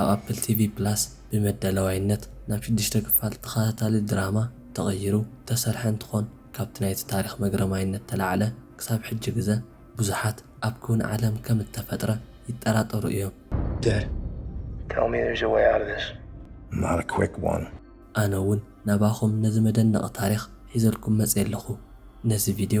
ኣብ ኣፕል ቲቪ ፕላስ ብመዳለዋይነት ናብ ሽዱሽተ ክፋል ተኸታታሊ ድራማ ተቐይሩ እተሰርሐ እንትኾን ካብቲ ናይቲ ታሪኽ መግረማይነት ተላዕለ ክሳብ ሕጂ ግዘ ብዙሓት ኣብ ክውን ዓለም ከም እተፈጥረ ይጠራጠሩ እዮም። Dad, tell me there's a way out of this. Not a quick one. ኣነ እውን ናባኹም ነዚ መደነቒ ታሪኽ ሒዘልኩም መፅየ ኣለኹ። ነዚ ቪድዮ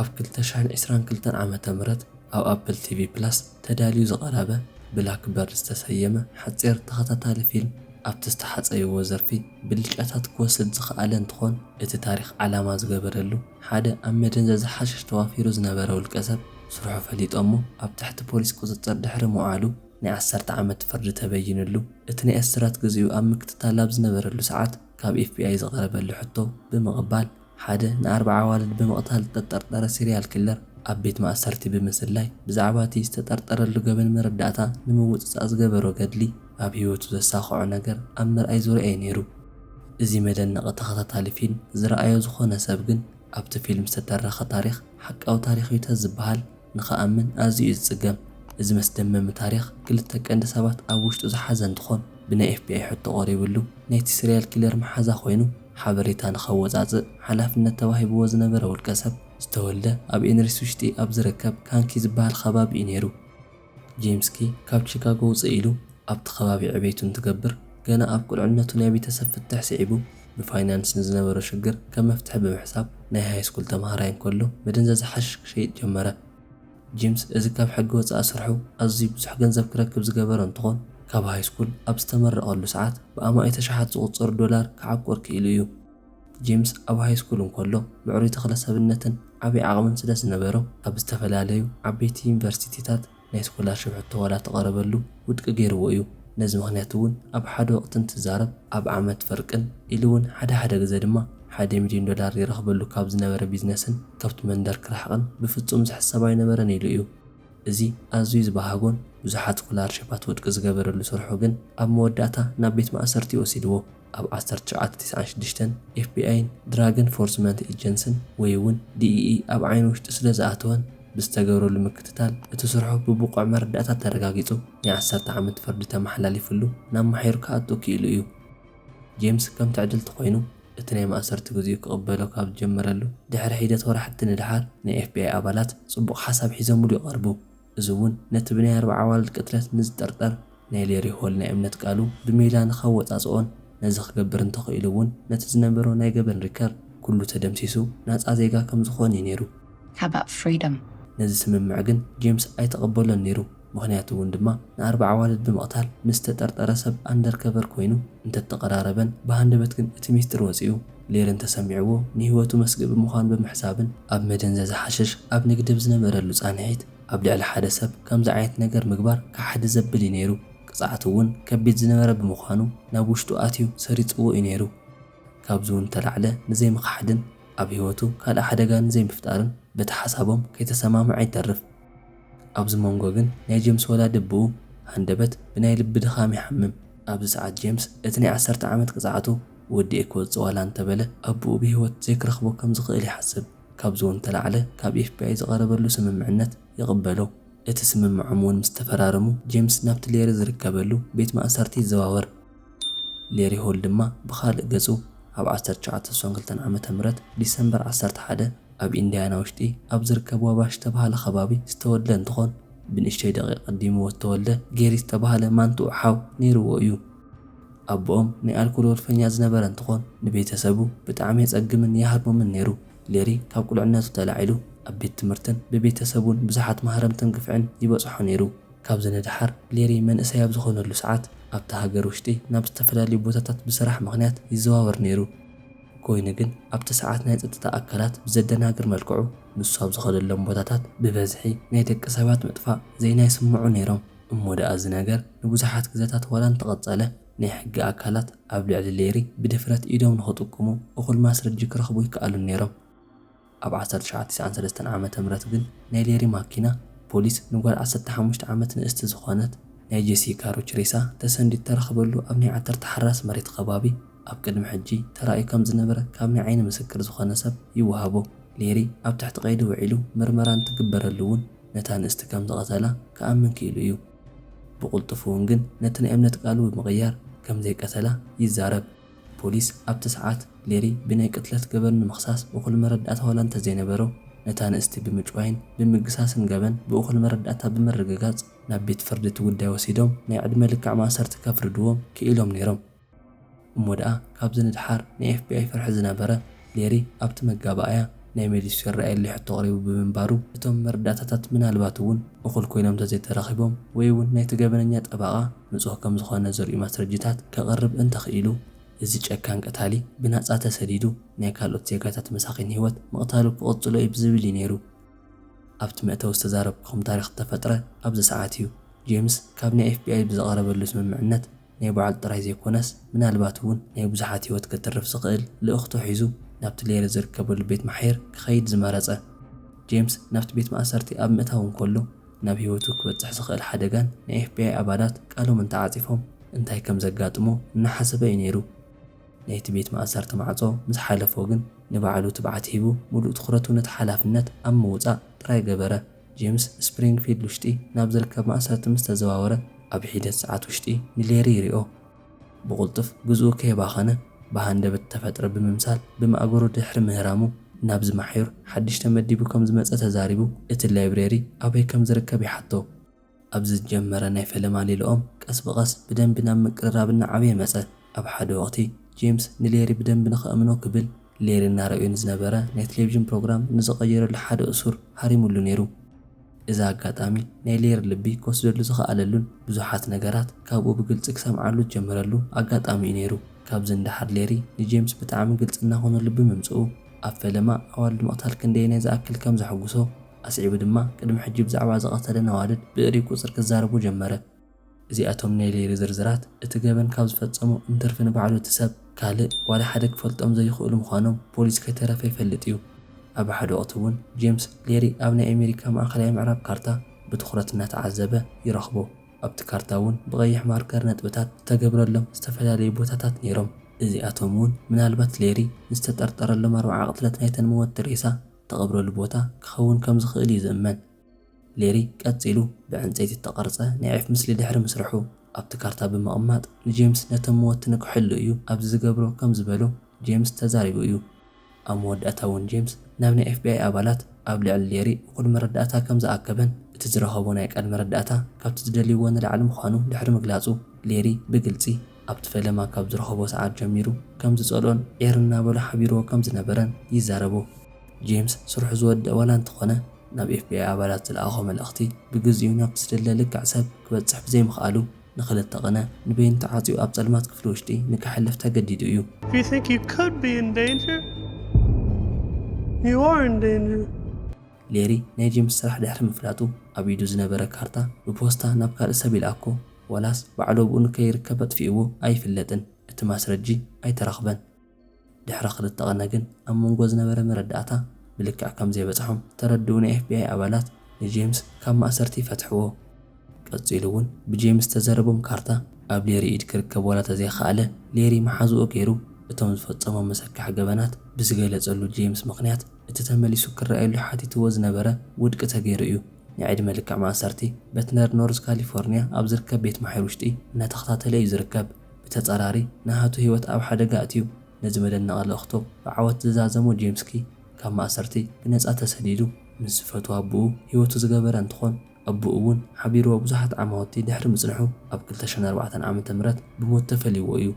ኣብ ክልተ ሽሕን ዕስራን ክልተን ዓመተ ምህረት ኣብ ኣፕል ቲቪ ፕላስ ተዳልዩ ዝቐረበ ብላክበርድ ዝተሰየመ ሓጺር ተኸታታሊ ፊልም ኣብቲ ዝተሓጸይዎ ዘርፊ ብልጫታት ክወስድ ዝኸኣለ እንትኾን እቲ ታሪኽ ዓላማ ዝገበረሉ ሓደ ኣብ መደንዘዚ ሓሽሽ ተዋፊሩ ዝነበረ ውልቀሰብ ስርሑ ፈሊጦሞ ኣብ ትሕቲ ፖሊስ ቁጽጽር ድሕሪ ምውዓሉ ናይ ዓሰርተ ዓመት ፍርዲ ተበይንሉ እቲ ናይ እስራት ግዚኡ ኣብ ምክትታል ኣብ ዝነበረሉ ሰዓት ካብ ኤፍቢኣይ ዝቐረበሉ ሕቶ ብምቕባል ሓደ ንኣርብዓ ኣዋልድ ብምቕታል ዝተጠርጠረ ሲርያል ኪለር ኣብ ቤት ማእሰርቲ ብምስላይ ብዛዕባ'ቲ ዝተጠርጠረሉ ገበን መረዳእታ ንምውጽጻእ ዝገበሮ ገድሊ ኣብ ህይወቱ ዘሳኽዖ ነገር ኣብ ምርኣይ ዙርያ'ዩ ነይሩ። እዚ መደነቒ ተኸታታሊ ፊልም ዝረኣዮ ዝኾነ ሰብ ግን ኣብቲ ፊልም ዝተተረኸ ታሪኽ ሓቃዊ ታሪኽ'ዩ ተዝበሃል ንኽኣምን ኣዝዩ'ዩ ዝጽገም። እዚ መስደመሚ ታሪኽ ክልተ ቀንዲ ሰባት ኣብ ውሽጡ ዝሓዘ እንትኾን ብናይ ኤፍቢኣይ ሕቶ ቀሪብሉ ናይቲ ሲርያል ኪለር መሓዛ ኮይኑ ሓበሬታ ንኸወጻጽእ ሓላፍነት ተዋሂብዎ ዝነበረ ውልቀሰብ፣ ዝተወልደ ኣብ ኤንሪስ ውሽጢ ኣብ ዝርከብ ካንኪ ዝበሃል ኸባቢ'ዩ ነይሩ። ጄምስኪ ካብ ቺካጎ ውጽእ ኢሉ ኣብቲ ኸባቢ ዕቤቱ እንትገብር፣ ገና ኣብ ቁልዕነቱ ናይ ቤተሰብ ፍትሕ ስዒቡ ብፋይናንስ ንዝነበሮ ሽግር ከም መፍትሒ ብምሕሳብ ናይ ሃይስኩል ተማሃራይ እንከሎ መደንዘዚ ሓሽሽ ክሸይጥ ጀመረ። ጂምስ እዚ ካብ ሕጊ ወጻኢ ስርሑ ኣዝዩ ብዙሕ ገንዘብ ክረክብ ዝገበሮ እንትኾን፣ ካብ ሃይስኩል ኣብ ዝተመረቐሉ ሰዓት ብኣማኢት ኣሽሓት ዝቑጸሩ ዶላር ክዓቁር ክኢሉ እዩ። ጂምስ ኣብ ሃይስኩል እንከሎ ምዕሩይ ተኽለ-ሰብነትን ዓቢ ዓቕምን ስለዝነበሮ ኣብ ዝተፈላለዩ ዓበይቲ ዩኒቨርሲቲታት ናይ ስኮላርሺፕ ሕቶ ዋላ ተቐረበሉ፣ ውድቂ ገይርዎ እዩ። ነዚ ምኽንያት እውን ኣብ ሓደ ወቕቲ እንትዛረብ ኣብ ዓመት ፍርቅን ኢሉ እውን ሓደ ሓደ ግዘ ድማ ሓደ ሚልዮን ዶላር ይረኽበሉ ካብ ዝነበረ ቢዝነስን ከብቱ መንደር ክርሕቕን ብፍፁም ዝሕሰብ ኣይነበረን ኢሉ እዩ። እዚ ኣዝዩ ዝበሃጎን ብዙሓት ስኮላርሽፓት ውድቂ ዝገበረሉ ስርሑ ግን ኣብ መወዳእታ ናብ ቤት ማእሰርቲ ወሲድዎ። ኣብ ዓሰርተ ትሽዓተ ቴስዓን ሽዱሽተን ኤፍቢኣይን ድራግ ኤንፎርስመንት ኤጀንስን ወይ'ውን ዲኢኢ ኣብ ዓይኒ ውሽጢ ስለዝኣተወን ብዝተገብረሉ ምክትታል እቲ ስርሑ ብብቑዕ መረዳእታ ተረጋጊጹ ናይ ዓሰርተ ዓመት ፍርዲ ተመሓላሊፍሉ ናብ ማሕዩር ክኣቱ ክኢሉ እዩ። ጄምስ ከም ትዕድልቲ ኮይኑ እቲ ናይ ማእሰርቲ ግዚኡ ክቕበሎ ካብ ዝጀመረሉ ድሕሪ ሒደት ወራሕቲ ንደሓር ናይ ኤፍቢኣይ ኣባላት ጽቡቕ ሓሳብ ሒዘምሉ ይቐርቡ። እዚ እውን ነቲ ብናይ ኣርብዓ ኣዋልድ ቅትለት ንዝጥርጠር ናይ ሌሪ ሆል ናይ እምነት ቃሉ ብሜላ ንከወጻጽኦን ነዚ ክገብር እንተኽኢሉ እውን ነቲ ዝነበሮ ናይ ገበን ሪከርድ ኩሉ ተደምሲሱ ናጻ ዜጋ ከም ዝኾን እዩ ነይሩ። How about freedom? ነዚ ስምምዕ ግን ጄምስ ኣይተቐበሎን ነይሩ፣ ምኽንያቱ እውን ድማ ንኣርብዓ ኣዋልድ ብምቕታል ምስ ዝተጠርጠረ ሰብ ኣንደርከቨር ኮይኑ እንተተቐራረበን ብሃንደበት ግን እቲ ሚስጢር ወጺኡ፣ ሌር እንተሰሚዕዎ ንህይወቱ መስግኢ ብምዃኑ ብምሕሳብን ኣብ መደንዘዚ ሓሽሽ ኣብ ንግዲ ብዝነበረሉ ፃንሒት ኣብ ልዕሊ ሓደ ሰብ ከምዚ ዓይነት ነገር ምግባር ከሓዲ ዘብል እዩ ነይሩ። ቅፅዓቱ እውን ከቢድ ዝነበረ ብምዃኑ ናብ ውሽጡ ኣትዩ ሰሪፅዎ እዩ ነይሩ። ካብዚ እውን እተላዕለ ንዘይምኽሓድን ኣብ ህይወቱ ካልእ ሓደጋ ንዘይምፍጣርን በቲ ሓሳቦም ከይተሰማምዐ ይተርፍ። ኣብዚ መንጎ ግን ናይ ጀምስ ወላዲ ኣቦኡ ሃንደበት ብናይ ልቢ ድኻም ይሓምም። ኣብዚ ሰዓት ጀምስ እቲ ናይ ዓሰርተ ዓመት ቅጽዓቱ ወዲኤ ክወጽእ ዋላ እንተበለ ኣቦኡ ብህይወት ዘይክረኽቦ ከም ዝኽእል ይሓስብ። ካብዚ'ውን እተላዕለ ካብ ኤፍቢኣይ ዝቐረበሉ ስምምዕነት ይቕበሎ። እቲ ስምምዖም'ውን ምስ ተፈራረሙ ጀምስ ናብቲ ሌሪ ዝርከበሉ ቤት ማእሰርቲ ይዘዋወር። ሌሪ ሆል ድማ ብኻልእ ገጹ፣ ኣብ ዓሰርተ ትሽዓተ ስሳን ክልተን ዓመተ ምህረት ዲሰምበር ዓሰርተ ሓደ ኣብ ኢንድያና ውሽጢ ኣብ ዝርከብ ዋባሽ ዝተባህለ ከባቢ ዝተወልደ እንትኾን፣ ብንእሽተይ ደቒቕ ኣቐዲምዎ ዝተወልደ ጌሪ ዝተባህለ ማንትኡ ሓው ነይርዎ እዩ። ኣቦኦም ናይ ኣልኮል ወልፈኛ ዝነበረ እንትኾን፣ ንቤተሰቡ ብጣዕሚ የጸግምን ይሃርሞምን ነይሩ። ሌሪ ካብ ቁልዕነቱ ተላዒሉ ኣብ ቤት ትምህርትን ብቤተሰቡን ብዙሓት ማህረምትን ግፍዕን ይበጽሖ ነይሩ። ካብዚ ንደሓር ሌሪ መንእሰይ ኣብ ዝኾነሉ ሰዓት ኣብታ ሃገር ውሽጢ ናብ ዝተፈላለዩ ቦታታት ብስራሕ ምኽንያት ይዘዋወር ነይሩ። ኮይኑ ግን ኣብቲ ሰዓት ናይ ፀጥታ ኣካላት ብዘደናግር መልክዑ ንሱ ኣብ ዝኸደሎም ቦታታት ብበዝሒ ናይ ደቂ ሰባት ምጥፋእ ዜና ይስምዑ ነይሮም። እሞ ደኣ እዚ ነገር ንብዙሓት ግዘታት ዋላ እንተቐፀለ ናይ ሕጊ ኣካላት ኣብ ልዕሊ ሌሪ ብድፍረት ኢዶም ንኽጥቁሙ እኹል ማስረጂ ክረኽቡ ኣይከኣሉን ነይሮም። ኣብ ዓሰርተ ትሽዓተ ቲስዓን ሰለስተን ዓመተ ምህረት ግን ናይ ሌሪ ማኪና ፖሊስ ንጓል ዓሰርተ ሓሙሽተ ዓመት ንእስቲ ዝኾነት ናይ ጄሲ ካሩች ሬሳ ተሰንዲዱ ተረኽበሉ ኣብ ናይ ዓተር ተሓራስ መሬት ኸባቢ ኣብ ቅድሚ ሕጂ ተራእዩ ከም ዝነበረ ካብ ናይ ዓይኒ ምስክር ዝኾነ ሰብ ይወሃቦ ሌሪ ኣብ ትሕቲ ቀይዲ ውዒሉ ምርመራ እንትግበረሉ ውን ነታ ንእስቲ ከም ዝቐተላ ክኣምን ክኢሉ እዩ ብቕልጡፍ ውን ግን ነቲ ናይ እምነት ቃሉ ብምቕያር ከም ዘይቀተላ ይዛረብ። ፖሊስ ኣብቲ ሰዓት፣ ሌሪ ብናይ ቅትለት ገበን ንምኽሳስ እኹል መረዳእታ ዋላ እንተዘይነበሮ፣ ነታ ንእስቲ ብምጭዋይን ብምግሳስን ገበን ብእኹል መረዳእታ ብምርግጋጽ ናብ ቤት ፍርዲ እቲ ጉዳይ ወሲዶም ናይ ዕድመ ልክዕ ማእሰርቲ ከፍርድዎም ክኢሎም ነይሮም። እሞ ደኣ ካብዚ ንደሓር ናይ ኤፍቢኣይ ፍርሒ ዝነበረ፣ ሌሪ ኣብቲ መጋባእያ ናይ መሊሱ ይረኣየለይ ሕቶ ኣቕሪቡ ብምንባሩ፣ እቶም መረዳእታታት ምናልባት'ውን እኹል ኮይኖም እንተዘይተረኺቦም ወይ'ውን ናይቲ ገበነኛ ጠበቓ ንጹህ ከም ዝኾነ ዘርእዩ ማስረጂታት ከቕርብ እንተኽኢሉ፣ እዚ ጨካን ቀታሊ ብናጻ ተሰዲዱ ናይ ካልኦት ዜጋታት መሳኪን ሂወት ምቕታሉ ክቕጽሎ እዩ ብዝብል እዩ ነይሩ ኣብቲ መእተዊ ዝተዛረብኩኹም ታሪኽ ዝተፈጥረ ኣብዚ ሰዓት እዩ። ጄምስ ካብ ናይ ኤፍቢኣይ ብዝቐረበሉ ስምምዕነት፣ ናይ ባዕሉ ጥራይ ዘይኮነስ ምናልባት እውን ናይ ብዙሓት ህይወት ከትርፍ ዝኽእል ልእኽቶ ሒዙ ናብቲ ሌሪ ዝርከበሉ ቤት ማሕየር ክኸይድ ዝመረጸ። ጄምስ ናብቲ ቤት ማእሰርቲ ኣብ ምእታዉ እንከሎ ናብ ህይወቱ ክበጽሕ ዝኽእል ሓደጋን ናይ ኤፍቢኣይ ኣባላት ቃሎም እንተዓጺፎም እንታይ ከም ዘጋጥሞ እናሓሰበ እዩ ነይሩ። ናይቲ ቤት ማእሰርቲ ማዕጾ ምስ ሓለፎ ግን ንባዕሉ ትብዓት ሂቡ ምሉእ ትኹረቱ ነቲ ሓላፍነት ኣብ ምውጻእ ጥራይ ገበረ። ጄምስ ስፕሪንግፊልድ ውሽጢ ናብ ዝርከብ ማእሰርቲ ምስ ተዘዋወረ፣ ኣብ ሒደት ሰዓት ውሽጢ ንሌሪ ይሪኦ። ብቕልጡፍ ግዝኡ ከየባኸነ ብሃንደበት እተፈጥረ ብምምሳል ብማእገሩ ድሕሪ ምህራሙ፣ ናብዚ ማሕዩር ሓድሽ ተመዲቡ ከም ዝመጸ ተዛሪቡ፣ እቲ ላይብረሪ ኣበይ ከም ዝርከብ ይሓቶ። ኣብ ዝጀመረ ናይ ፈለማ ሌልኦም ቀስ ብቐስ ብደንቢ ናብ ምቅርራብ እናዓበየ መጸ። ኣብ ሓደ ወቕቲ ጄምስ ንሌሪ ብደንቢ ንኸእምኖ ክብል ሌሪ እናረኣዮ ንዝነበረ ናይ ተሌቪዥን ፕሮግራም ንዝቐየረሉ ሓደ እሱር ሃሪሙሉ ነይሩ። እዚ ኣጋጣሚ ናይ ሌሪ ልቢ ክወስደሉ ዝኸኣለሉን ብዙሓት ነገራት ካብኡ ብግልጺ ክሰምዓሉ ዝጀመረሉ ኣጋጣሚ'ዩ ነይሩ። ካብዚ ንደሓር ሌሪ ንጄምስ ብጣዕሚ ግልጺ እናኾነሉ ብምምጽኡ ኣብ ፈለማ ኣዋልድ ምቕታል ክንደየናይ ዝኣክል ከም ዘሐጉሶ ኣስዒቡ ድማ ቅድሚ ሕጂ ብዛዕባ ዝቐተለን ኣዋልድ ብእሪ ቁጽሪ ክዛረቡ ጀመረ። እዚኣቶም ናይ ሌሪ ዝርዝራት እቲ ገበን ካብ ዝፈጸሙ እንትርፊ ንባዕሉ እቲ ሰብ ካልእ ዋላ ሓደ ክፈልጦም ዘይኽእሉ ምዃኖም ፖሊስ ከይተረፈ ይፈልጥ እዩ። ኣብ ሓደ ወቕቲ እውን ጄምስ ሌሪ ኣብ ናይ ኣሜሪካ ማእከላይ ምዕራብ ካርታ ብትኹረት እናተዓዘበ ይረኽቦ። ኣብቲ ካርታ እውን ብቐይሕ ማርከር ነጥብታት ዝተገብረሎም ዝተፈላለዩ ቦታታት ነይሮም። እዚኣቶም እውን ምናልባት ሌሪ ንዝተጠርጠረሎም ኣርብዓ ቅትለት ናይተን ምወትቲ ሬሳ እተቐብረሉ ቦታ ክኸውን ከም ዝኽእል እዩ ዝእመን። ሌሪ ቀጺሉ ብዕንጸይቲ እተቐርጸ ናይ ዒፍ ምስሊ ድሕሪ ምስርሑ፣ ኣብቲ ካርታ ብምቕማጥ ንጄምስ ነቶም መወቲ ንክሕሉ እዩ ኣብዚ ዝገብሮ ከም ዝበሎ ጄምስ ተዛሪቡ እዩ። ኣብ መወዳእታ እውን ጄምስ ናብ ናይ ኤፍቢኣይ ኣባላት ኣብ ልዕሊ ሌሪ እኹል መረዳእታ ከም ዝኣከበን እቲ ዝረኸቦ ናይ ቃል መረዳእታ ካብቲ ዝደልይዎ ንላዕሊ ምዃኑ ድሕሪ ምግላጹ ሌሪ ብግልጺ ኣብቲ ፈለማ ካብ ዝረኸቦ ሰዓት ጀሚሩ ከም ዝጸልኦን ዒር እናበሎ ሓቢርዎ ከም ዝነበረን ይዛረቡ። ጄምስ ስርሑ ዝወደኣ ዋላ እንተኾነ፣ ናብ ኤፍቢኣይ ኣባላት ዝለኣኾ መልእኽቲ ብግዜኡ ናብቲ ዝድለ ልክዕ ሰብ ክበጽሕ ብዘይምኽኣሉ ንኽልተ ቕነ ንበይኑ ተዓጽዩ ኣብ ጸልማት ክፍሊ ውሽጢ ንከሕልፍ ተገዲዱ እዩ። If you think you could be in danger, you are in danger. ሌሪ ናይ ጄምስ ስራሕ ድሕሪ ምፍላጡ ኣብ ኢዱ ዝነበረ ካርታ ብፖስታ ናብ ካልእ ሰብ ይልኣኮ። ዋላስ ባዕሎብኡ ንከይርከብ ኣጥፊኡዎ ኣይፍለጥን እቲ ማስረጂ ኣይተረኽበን። ድሕሪ ክልተ ቕነ ግን ኣብ መንጎ ዝነበረ መረዳእታ ብልክዕ ከምዘይበጽሖም ተረድኡ ናይ ኤፍቢኣይ ኣባላት ንጄምስ ካብ ማእሰርቲ ፈትሕዎ። ቀጺሉ ውን ብጄምስ ዝተዘረቦም ካርታ ኣብ ሌሪ ኢድ ክርከብ ዋላ ተዘይኸኣለ ሌሪ መሓዝኡ ገይሩ እቶም ዝፈጸሞም መሰካሒ ገበናት ብዝገለጸሉ ጄምስ ምኽንያት እቲ ተመሊሱ ክረኣየሉ ሓቲትዎ ዝነበረ ውድቂ ተገይሩ እዩ። ንዕድመ ልክዕ ማእሰርቲ በትነር ኖርዝ ካሊፎርንያ ኣብ ዝርከብ ቤት ማሕዩር ውሽጢ እናተኸታተለ እዩ ዝርከብ። ብተፃራሪ ንሃቱ ህይወት ኣብ ሓደጋ ኣእትዩ ነዚ መደነቒ ልእኽቶ ብዓወት ዝዛዘሞ ጄምስኪ ካብ ማእሰርቲ ብነፃ ተሰዲዱ ምስ ዝፈትዎ ኣቡኡ ህይወቱ ዝገበረ እንትኾን ኣቡኡ እውን ሓቢርዎ ብዙሓት ዓማውቲ ድሕሪ ምፅንሑ ኣብ ክልተ ሽሕን ኣርባዕተን ዓመተ ምህረት ብሞት ተፈልይዎ እዩ።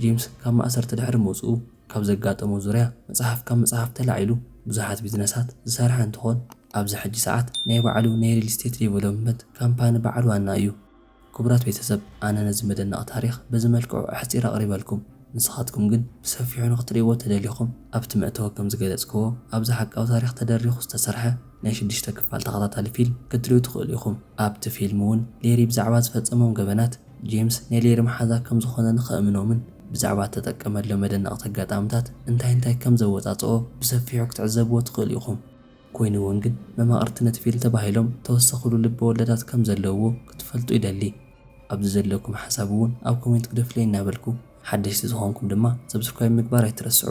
ጄምስ ካብ ማእሰርቲ ድሕሪ ምውፅኡ ካብ ዘጋጠሞ ዙርያ መፅሓፍ ካብ ምፅሓፍ ተላዒሉ ብዙሓት ቢዝነሳት ዝሰርሐ እንትኾን፣ ኣብዚ ሕጂ ሰዓት ናይ ባዕሉ ናይ ሪል ስቴት ዴቨሎፕመንት ካምፓኒ ባዓል ዋና እዩ። ክቡራት ቤተሰብ ኣነ ነዚ መደነቒ ታሪኽ በዚ መልክዑ ኣሕጺረ ኣቕሪበልኩም። ንስኻትኩም ግን ብሰፊሑ ንኽትሪእዎ ተደሊኹም ኣብቲ መእተዊ ከም ዝገለጽክዎ ኣብዚ ሓቃዊ ታሪኽ ተደሪኹ ዝተሰርሐ ናይ ሽዱሽተ ክፋል ተኸታታሊ ፊልም ክትሪኡ ትኽእሉ ኢኹም። ኣብቲ ፊልም ውን ሌሪ ብዛዕባ ዝፈጸሞም ገበናት ጄምስ ናይ ሌሪ መሓዛ ከም ዝኾነን ኸእምኖምን ብዛዕባ እተጠቀመሎም መደነቕቲ ኣጋጣምታት እንታይ እንታይ ከም ዘወጻጽኦ ብሰፊሑ ክትዕዘብዎ ትኽእሉ ኢኹም። ኮይኑ'ውን ግን መማቕርቲ ነቲ ፊል ተባሂሎም ተወሰኹሉ ልበ ወለዳት ከም ዘለውዎ ክትፈልጡ ይደሊ። ኣብዚ ዘለኩም ሓሳብ እውን ኣብ ኮሜንት ግደፉለይ እናበልኩ ሓደሽቲ ዝኾንኩም ድማ ሰብስክራይብ ምግባር ኣይትረስዑ።